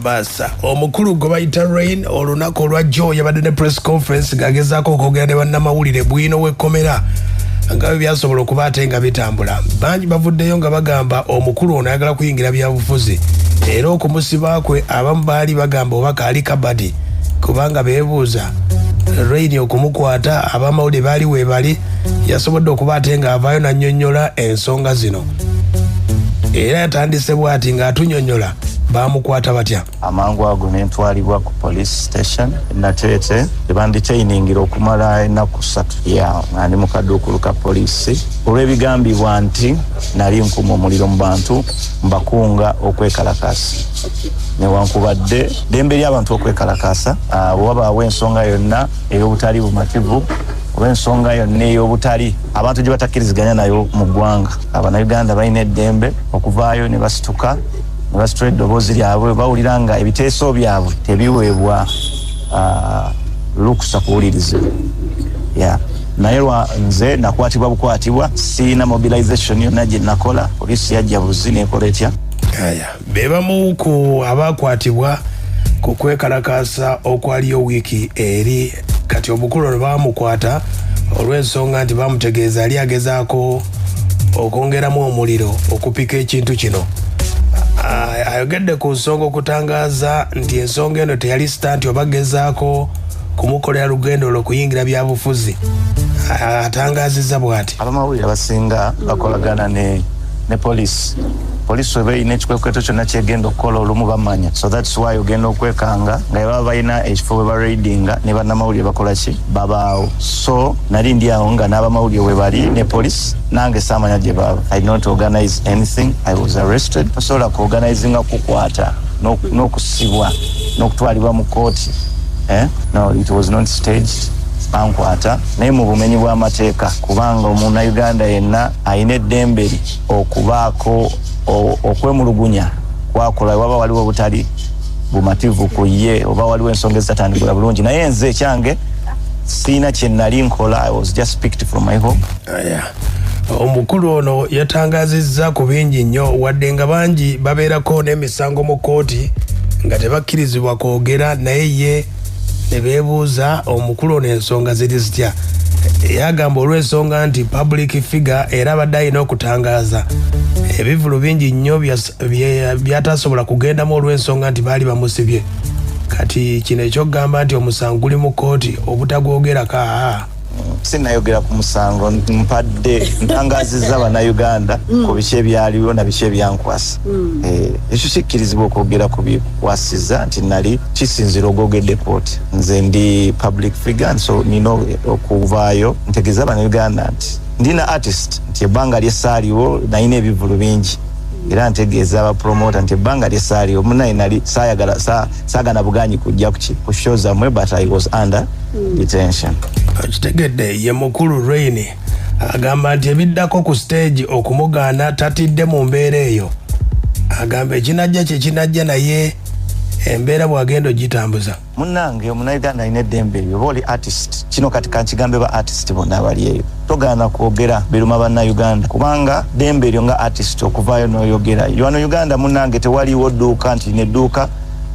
Basa omukulu gwe bayita Rain olunaku olwa Joe yabadde ne press conference ng'agezaako okwogera ne bannamawulire bwino w'ekkomera nga bwe byasobola okuba ate nga bitambula bangi bavuddeyo nga bagamba omukulu ono ayagala kuyingira byabufuzi era okumusiba kwe abamu baali bagamba oba kaali kabadi kubanga beebuuza Rain okumukwata abamawulire baali weebali yasobodde okuba ate ng'avaayo n'annyonnyola ensonga zino era yatandise bwati ng'atunyonyola bamukwata batya amangu ago nentwalibwa ku police station nateete ebanditainingira okumala enaku satu ya nga ndi mukaduukulu ka poliisi olw'ebigambibwa nti nali nkuma omuliro mu bantu mbakunga okwekalakaasa newankubadde dembe ly'abantu okwekalakaasa bwe wabaawo ensonga yonna ey'obutali bumativu oba ensonga yonna ey'obutali abantu gye batakkiriziganya nayo mu ggwanga abanauganda balina eddembe okuvaayo ne basituka ne basitula eddoboozi lyabwe bawulira nga ebiteeso byabwe tebiweebwa ah, lukusa kuwulirizibwa yeah. naye lwa nze nakwatibwa bukwatibwa siina mobilization yonna gye nakola poliisi yajja buzi nekola etya be bamu ku abaakwatibwa ku kwekalakaasa okwaliyo wiiki eri kati omukulu ono baamukwata olw'ensonga nti baamutegeeza yali agezaako okwongeramu omuliro okupika ekintu kino ayogedde ku nsonga okutangaaza nti ensonga eno teyali sitanti oba gezaako kumukolera lugendo olwo kuyingira byabufuzi atangaziza bwati abamawulire abasinga bakolagana ne ne polisi polisi weba erina ekikwekweto kyonna kyegenda okukola olumu bamanya so thats why ogenda okwekanga nga baba balina ekifo bwe baraidinga ne bannamawulire bakola ki babaawo so nali ndi awo nga n'abamawulire we bali ne polisi nange saamanya gye baaba i not organize anything i was arrested osobola kuorganizinga kukwata n'okusibwa n'okutwalibwa mu kkooti eh? no it was not staged bankwata naye mu bumenyi bw'amateeka kubanga omunauganda yenna alina eddembe ly okubaako okwemulugunya kwakola waba waliwo obutali bumativu ku ye oba waliwo ensonga ezitatandikula bulungi naye nze ekyange siina kyenali nkola i was just picked from my home oh, yeah. omukulu ono yatangazizza ku bingi nnyo wadde nga bangi babeerako n'emisango mu kkooti nga tebakkirizibwa kwogera naye ye ne beebuuza omukulu ono ensonga ziri zitya yagamba olw'ensonga nti public figure era abadde alina okutangaaza ebivulu bingi nnyo byatasobola kugendamu olw'ensonga nti baali bamusibye kati kino ekyokugamba nti omusango guli mu kkooti obutagwogerako aa sinayogera ku musango mpadde ntangaziza banauganda mm. ku biki ebyaliwo na biki ebyankwasa mm. eh, ekyo kikkirizibwa okwogera ku bikwasiza nti nali kisinzira ogwogedde kooti nze ndi public figure nso nina okuvaayo ntegeeza banauganda nti ndina artist nti ebbanga lyesaaliwo nayina ebivulu bingi era ntegeeza abapromota nti ebbanga lyesaaliwo munaye nali saagana buganyi kujja ku show zamwe but i was under detention okitegedde ye mukulu rain agamba nti ebiddako ku stage okumugaana tatidde mu mbeera eyo agamba ekinajja kyekinajja naye embeera bwagenda ogitambuza munange omunauganda alina eddembe eyo oba oli artist kino kati kankigambe ba artist bonna abali eyo togaana kwogera biruma bannauganda kubanga ddembe eryo nga artist okuvaayo noyogera yoano uganda munange tewaliwo dduuka nti nedduuka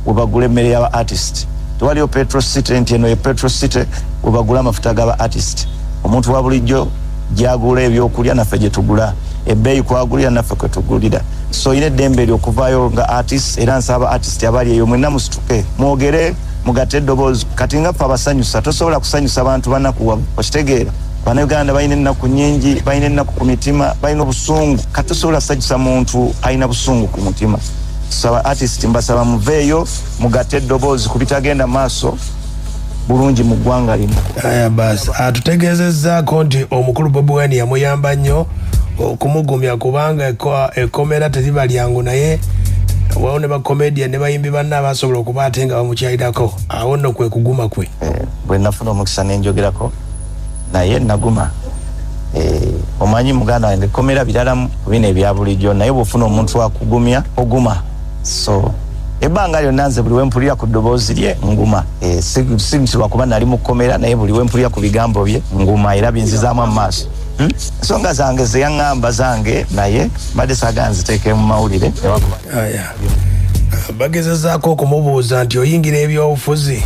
webagula emmere yaba artist tewaliyo petro city nti eno ye petro city webagula amafuta gaba artist omuntu wa bulijjo gyagula ebyokulya naffe gyetugula ebbeeyi kwagulira naffe kwetugulira so olina eddembe eri okuvaayo nga artist era nsaba artist abali eyo mwena musituke mwogere mugate eddoboozi kati nga ffe abasanyusa tosobola kusanyusa bantu banakuwa okitegeera banauganda balina ennaku nyingi balina ennaku ku mitima balina obusungu kati tosobola kusanyusa muntu alina busungu ku mutima saba artist mbasaba muveeyo mugatte eddoboozi ku bitagenda maaso bulungi mu ggwanga lino aya bas atutegeezezzaako nti omukulu bobi wine yamuyamba nnyo okumugumya kubanga ekkomera teriba lyangu naye wawo ne bakomedia ne bayimbi banna abasobola okuba ate nga bamukyairako awo nno kwe kuguma kwe eh, bwe nafuna omukisa nenjogerako naye naguma eh, omanyi muganda wange komera birala bino ebyabulijjo naye bwofuna omuntu wakugumya oguma so ebbanga lyonna nze buli wempulira ku ddoboozi lye nguma eh, si nti lwakuba nali mukomera naye buli wempulira ku bigambo bye nguma era binzizaamu amumaaso Hmm? ensonga zange zeyaŋamba zange naye mbadde saga nziteeke mu mawulire bagezezaako okumubuuza nti oyingira ebyobufuzi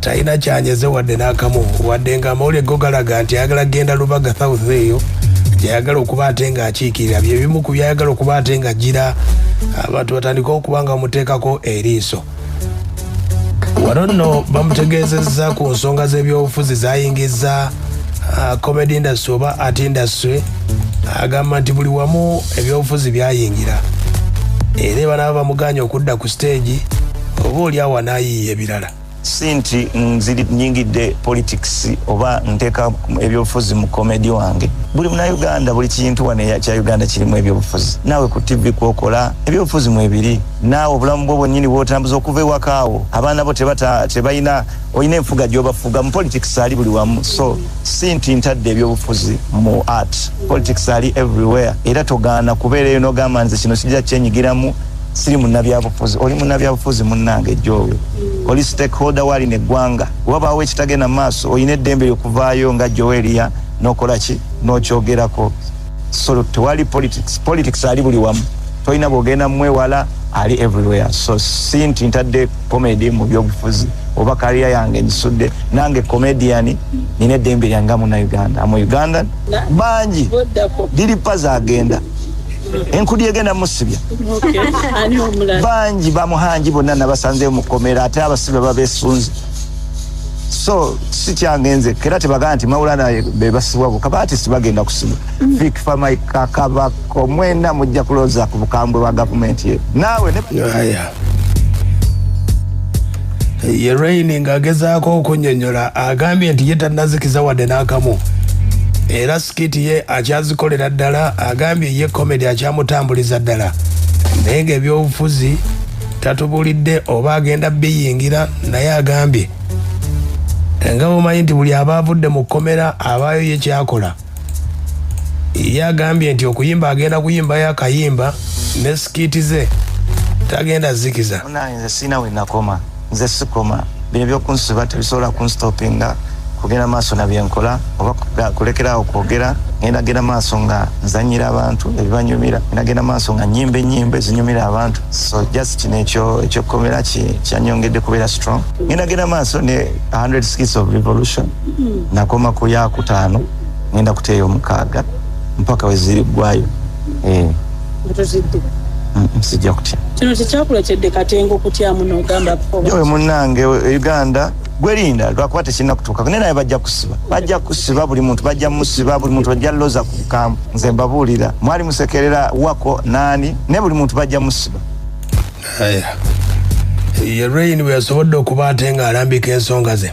talina kyanyeze wadde n'akamu wadde nga amawulire go galaga nti ayagala kugenda lubaga south eyo gyayagala okuba ate ng'akiikirira bye bimu ku byayagala okuba ate nga gira abantu batandika okuba nga bamuteekako eriiso wano nno bamutegeezezza ku nsonga z'ebyobufuzi zayingiza uh, comedy industry oba art industry agamba nti buli wamu ebyobufuzi byayingira era banaba bamuganye okudda ku siteegi oba oli awo anayiiya ebirala si nti nyingidde politics oba nteeka ebyobufuzi mu komedi wange buli munauganda buli kintu wano kya uganda kirimu ebyobufuzi naawe ku tv kwokola ebyobufuzi mwebiri naawe obulamu bwo bwenyini bwotambuza okuva ewakaawo abaana bo tebalina olina enfuga gyobafuga mu politics ali buli wamu so si nti ntadde ebyobufuzi mu art politics ali everywhere era togaana kubeera eyo nogamba nze kino kijja kyenyigiramu siri munabyabufuzi oli munabyabufuzi munange jowe mm. oli stakeholder wali negwanga wabaawo ekitagenda maaso olina eddembe lyokuvaayo nga joelia nokolaki nokyogerako so tewali politics politics ali buli wamu tolina bwogenda mumwewala ali everywhere so si nti ntadde comedy mu byobufuzi oba kaliya yange nsudde nange comedian nina eddembe lyanga muna uganda amu uganda bangi diripa zagenda enkudi egenda musibya bangi bamuhangi bonna nabasanzeyo mukomera ate abasibe babesunze so sikyange nze era tebagamba nti mawulana bebasibwa boka batisi bagenda kusibwa mm. fikfamaikakabako mwena mujja kuloza ku bukambwe bwa gavumenti ye naawe ye raini ng'agezaako okunyonyola agambye nti ye tanazikiza wadde n'akamu era skiti ye akyazikolera ddala agambye ye komedi akyamutambuliza ddala naye nga ebyobufuzi tatubulidde oba agenda biyingira naye agambye nga bumanyi nti buli aba avudde mu kkomera abaayo ye kyakola ye agambye nti okuyimba agenda kuyimbayo akayimba ne sikiti ze tagenda zikiza nze sikoma bino byokunsiba tebisobola kunstopinga kugenda maaso nabyenkola oba kulekerawo kwogera ngenda genda maaso nga nzanyira abantu ebibanyumira ngenda genda maaso nga nyimba enyimba ezinyumira abantu so just kino ekyokukomera kyanyongedde kubeera strong ngenda genda maaso ne 100 skits of revolution nakoma ku yakutaano ngenda kuteeyo omukaaga mpaka wezirigwayo eh. mutuzidde sijja kutya kino tekyakuletedde katenga okutyamu nogamba oyo munange e uganda gwerinda lwakuba tekirina kutuuka naye naye bajja kusiba bajja kusiba buli muntu bajja musiba buli muntu bajja loza ku kampu nze mbabuulira mwali musekerera wako naani naye buli muntu bajja musiba ye rain bwe yasobodde okuba ate ng'alambika ensonga ze